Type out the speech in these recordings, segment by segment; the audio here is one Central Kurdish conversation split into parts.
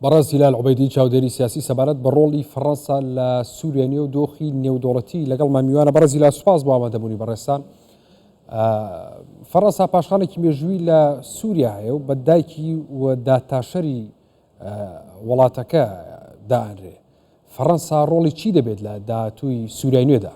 بەڕێز هیلال عوبەیدی چاودێری سیاسی سەبارەت بە ڕۆڵی فەڕەنسا لە سووریا نیە و دۆخی نێودوڵەتی لەگەڵ مامیوانە بەڕێز هیلال سوپاس بۆ ئامادەبوونی بەڕێستان فەڕەنسا پاشخانێکی مێژووی لە سووریا هەیە و بە دایکی و داتاشەری وڵاتەکە دانرێ فەڕەنسا ڕۆڵی چی دەبێت لە داهاتووی سوورای نوێدا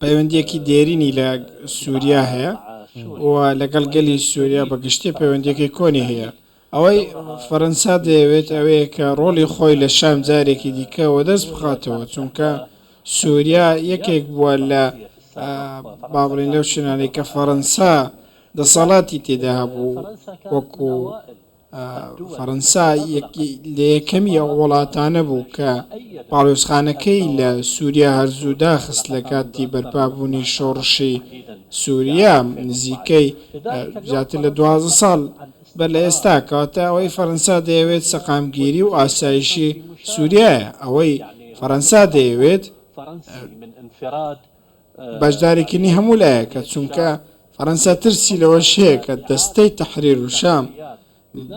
پەیوەندییەکی دێرینی لە سووریا هەیە و لەگەڵ گەلی سووریا بە گشتی پەیوەندییەکی کۆنی هەیە. ئەوەی فەرەنسا دەیەوێت ئەوەیە کە ڕۆڵی خۆی لە شام جارێکی دیکە وەدەست بخاتەوە، چونکە سووریا یەکێک بووە لە با بڵێین لەو شوێنانەی کە فەرەنسا دەسەڵاتی تێدا هەبوو وەکوو. فەرەنسا لە یەکەمی ئەو وڵاتانە بوو کە پاڵێوزخانەکەی لە سووریا هەرزوو داخست لە کاتی بەرپابوونی شۆڕشی سووریا نزیکەی زیاتر لە دوازە ساڵ بەر لە ئێستا کەواتە ئەوەی فەرەنسا دەیەوێت سەقامگیری و ئاسایشی سووریایە ئەوەی فەرەنسا دەیەوێت بەشداریکردنی هەموو لایەکە، چونکە فەرەنسا ترسی لەوەش هەیە کە دەستەی تەحریر الشام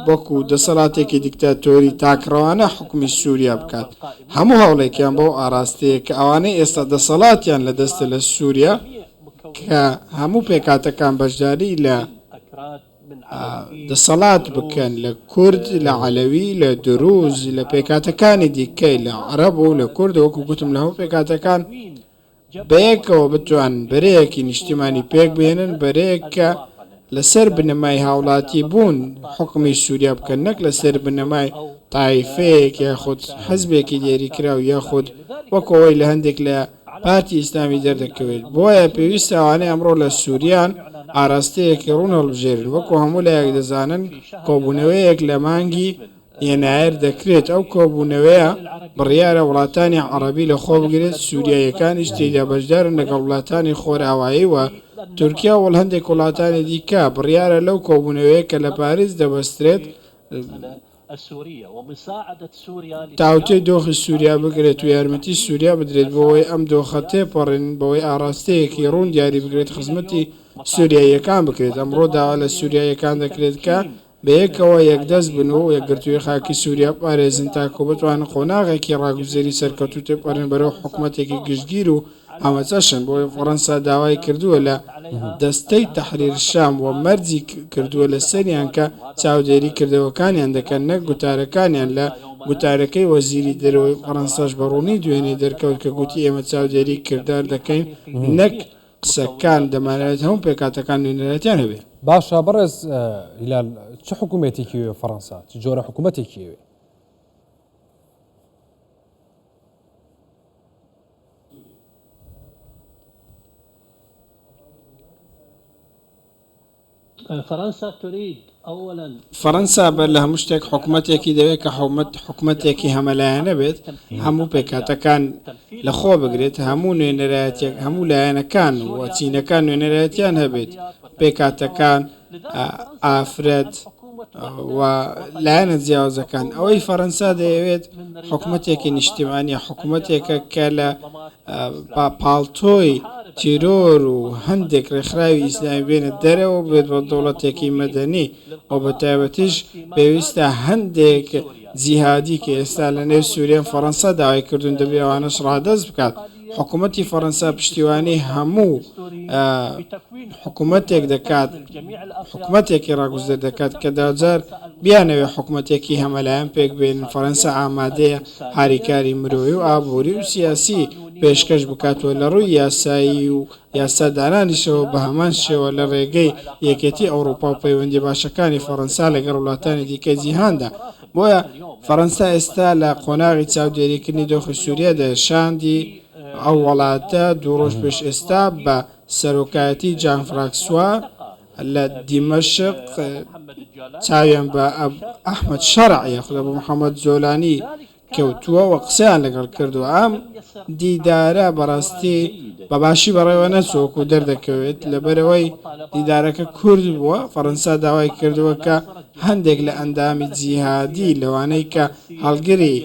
وەکو دەسەڵاتێکی دیکتاتۆری تاکڕەوانە حوکمی سوریا بکات، هەموو هەوڵێکیان بەو ئاراستەیە کە ئەوانەی ئێستا دەسەڵاتیان لە دەستە لە سوریا کە هەموو پێکهاتەکان بەشداری لە دەسەڵات بکەن لە کورد، لە عەلەوی، لە دروز، لە پێکهاتەکانی دیکەی لە عەرەب و لە کورد وەکو گوتم لە هەموو پێکهاتەکان بەیەکەوە بتوانن بەرەیەکی نیشتیمانی پێکبهێنن، بەرەیەک کە لەسەر بنەمای هاوڵاتیبوون حوکمی سوریا بکەن، نەک لەسەر بنەمای تایفەیەک یاخود حزبێکی دیاریکراو یاخود وەک ئەوەی لە هەندێک لە پارتی ئیسلامی دەردەکەوێت، بۆیە پێویستە ئەوانەی ئەمڕۆ لە سوریان ئاراستەیەکی ڕوون هەڵبژێرن، وەکو هەموو لایەک دەزانن کۆبوونەوەیەک لە مانگی ی نایەر دەکرێت ئەو کۆبوونەوەیە بڕیارە وڵاتانی عەڕەبی لە خۆ بگرێت سوریاییەکانیش تێیدا بەشدارن لەگەڵ وڵاتانی خۆراوایی و تورکیا وەڵ هەندێک وڵاتانی دیکە بڕیارە لەو کۆبوونەوەیە کە لە پاریس دەبەسترێت تاوتوێی دۆخی سوریا بکرێت و یارمەتی سوریا بدرێت بۆوەی ئەم دۆخە تێپەڕێن بەوەی ئاڕاستەیەکی ڕوون دیاری بکرێت خزمەتی سوریاییەکان بکرێت ئەمڕۆ داوا لە سوریاییەکان دەکرێت کە بەیەکەوە یەکدەست بن و یەکگرتوویی خاکی سووریا بپارێزن تاکوو بتوانن قۆناغێکی ڕاگوزەری سەرکەوتوو تێپەڕێنن بەرەو حکومەتێکی گشتگیر و هەمەچەشن، بۆیە فەڕەنسا داوای کردووە لە دەستەی تەحریر شام و مەرجی کردووە لەسەریان کە چاودێری کردەوەکانیان دەکەن نەک گوتارەکانیان، لە گوتارەکەی وەزیری دەرەوەی فەڕەنساش بەڕوونی دوێنێ دەرکەوت کە گوتی ئێمە چاودێری کردار دەکەین نەک قسەکان دەمانەوێت هەموو پێکهاتەکان نوێنەرایەتیان هەبێت. باشە بەڕێز هیلال چ حکومێتێکی وێ فەڕەنسا چ جۆرە حکوومەتێکی وێ؟ فرنسا تريد اولا. فەرەنسا بەر لە هەموو شتێک حکومەتێکی دەوێت کە حکومەتێکی هەمەلایەنە بێت، هەموو پێکهاتەکان لە خۆ بگرێت، هەموو نوێنەرایەتییەک، هەموو لایەنەکان و چینەکان نوێنەرایەتیان هەبێت، پێکهاتەکان، ئافرەت و لایەنە جیاوازەکان. ئەوەی فەرەنسا دەیەوێت حکومەتێکی نیشتیمانییە، حکومەتێکە کە لە با پاڵتۆی تیرۆر و هەندێک ڕێکخراوی ئیسلامی بێنە دەرەوە و بێت بە دەوڵەتێکی مەدەنی و بە تایبەتیش پێویستە هەندێک جیهادی کە ئێستا لە نێو سوریەن فەڕەنسا داوای کردوون دەبێ ئەوانەش ڕادەست بکات حکومەتی فەڕەنسا پشتیوانی هەموو حکومەتێک دەکات حکومەتێکی ڕاگوزەر دەکات کە داجار بیانەوێ حکومەتێکی هەمەلایەن پێک بێنن فەرەنسا ئامادەیە هاریکاری مرۆیی و ئابووری و سیاسی پێشکەش بکات و لە ڕووی یاسایی و یاسا دانانیشەوە بە هەمان شێوە لە ڕێگەی یەکێتی ئەوڕوپا و پەیوەندی باشەکانی فەرەنسا لەگەڵ وڵاتانی دیکەی جیهاندا بۆیە فەرەنسا ئێستا لە قۆناغی چاودێریکردنی دۆخی سووریادایە شاندی ئەو وڵاتە دوو ڕۆژ پێش ئێستا بە سەرۆکایەتی جان فراکسوا لە دیمەشق چاویان بە ئەحمەد شەرع یاخود ئەبو محەمەد جۆلانی کەوتووە و قسەیان لەگەڵ کردووە. ئەم دیدارە بەڕاستی بە باشی بەڕێوە نەچووە وەکو دەردەکەوێت، لەبەرئەوەی دیدارەکە کورت بووە، فەرەنسا داوای کردووە کە هەندێک لە ئەندامی جیهادی لەوانەی کە هەڵگری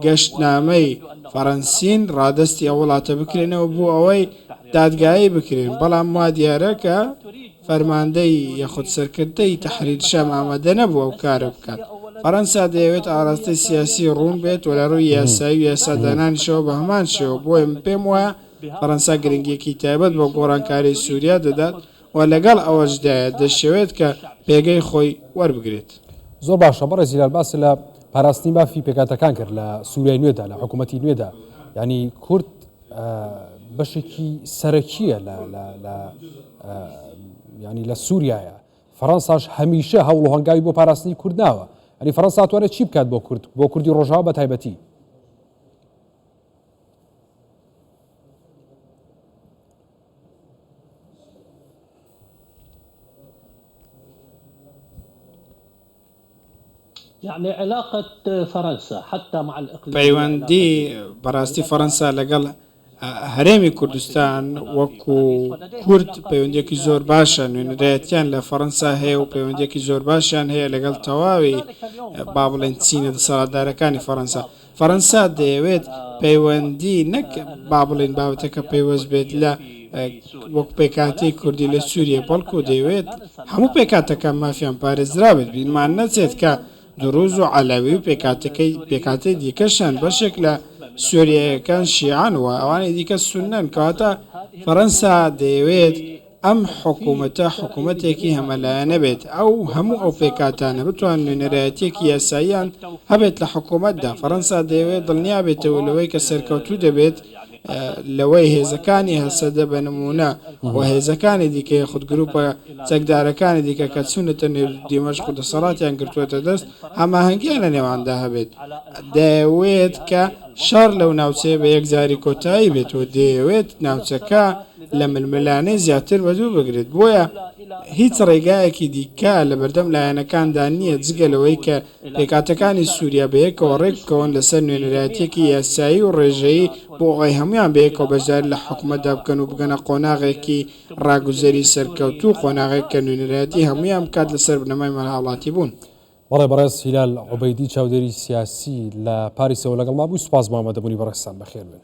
گەشتنامەی فەرەنسین ڕادەستی ئەو وڵاتە بکرێنەوە بۆ ئەوەی دادگایی بکرێن، بەڵام وا دیارە کە فەرماندەی یاخود سەرکردەی تەحریر شام ئامادە نەبوو ئەو کارە بکات. فەرەنسا دەیەوێت ئاراستەی سیاسی ڕوون بێت و لە ڕووی یاسایی و یاسادانانیشەوە بە هەمان شێوە، بۆیە من پێم وایە فەرەنسا گرنگییەکی تایبەت بە گۆڕانکاری سووریا دەدات، و لەگەڵ ئەوەشدایە دەشیەوێت کە پێگەی خۆی وەربگرێت. زۆر باشە بەڕێز هیلال باست لە پاراستنی مافی پێکهاتەکان کرد لە سووریای نوێدا لە حکوومەتی نوێدا ینی کورد بەشێکی سەرەکیە ینی لە سووریایە فەڕەنساش هەمیشە هەوڵ و هەنگاوی بۆ پاراستنی کوردناوە ئەنی فەرەنساتوانە چی بکات بۆ کورد بۆ کوردی ڕۆژاوە بە تایبەتی پەیوەندی بەڕاستی فەرەنسا لەگەڵ هەرێمی کوردستان وەکو کورد پەیوەندێکی زۆر باشە نوێنەرایەتیان لە فەرەنسا هەیە و پەیوەندێکی زۆر باشیان هەیە لەگەڵ تەواوی با بڵێن چینە دەسەڵاتدارەکانی فەرەنسا فەرەنسا دەیەوێت پەیوەندی نەک با بڵێین بابەتەکە پەیوەست بێت لە وەک پێکاتی کوردی لە سووریە بەڵکو دەیەوێت هەموو پێکاتەکە مافیان پارێزرا بێت بیرمان نەچێت کە دروز و عەلەوی و پێکاتەکەی پێکاتی دیکەشان بەشێک لە سووریەکان شیعان و ئەوانی دیکە سونەن کەواتە فەرەنسا دەیەوێت ئەم حکومەتە حکومەتێکی هەمەلایەنە بێت ئەو هەموو ئەو پێکهاتانە بتوان نوێنەرایەتیەکی یاساییان هەبێت لە حکومەتدا فەرەنسا دەیەوێت دڵنیابێتەوە لەوەی کە سەرکەوتوو دەبێت لەوەی هێزەکانی هەسەدە بە نمونە و هێزەکانی دیکەی خود گروپە چەکدارەکانی دیکە کە چونەتە نێو دیمەشق و دەسەڵاتیان گرتووەتە دەست هەماهەنگیان لە نێواندا هەبێت دەیەوێت کە شەڕ لەو ناوچەیە بە یەکجاری کۆتایی بێت و دەیەوێت ناوچەکە لە ململانێ زیاتر بە دوور بگرێت، بۆیە هیچ ڕێگایەکی دیکە لە بەردەم لایەنەکاندا نییە جگە لەوەی کە پێکهاتەکانی سووریا بەیەکەوە ڕێک بکەون لەسەر نوێنەرایەتییەکی یاسایی و ڕێژەیی بۆ ئەوەی هەموویان بەیەکەوە بەشداری لە حکومەتدا بکەن و بگەنە قۆناغێکی ڕاگوزەری سەرکەوتوو و قۆناغێک کە نوێنەرایەتی هەموویان بکات لەسەر بنەمای مەلهاوڵاتیبوون. بەڵێ بەڕێز هیلال عوبەیدی چاودێری سیاسی لە پاریسەوە لەگەڵما بوو، سوپاس بۆ ئامادەبوونی بەڕێزتان، بەخێربێن.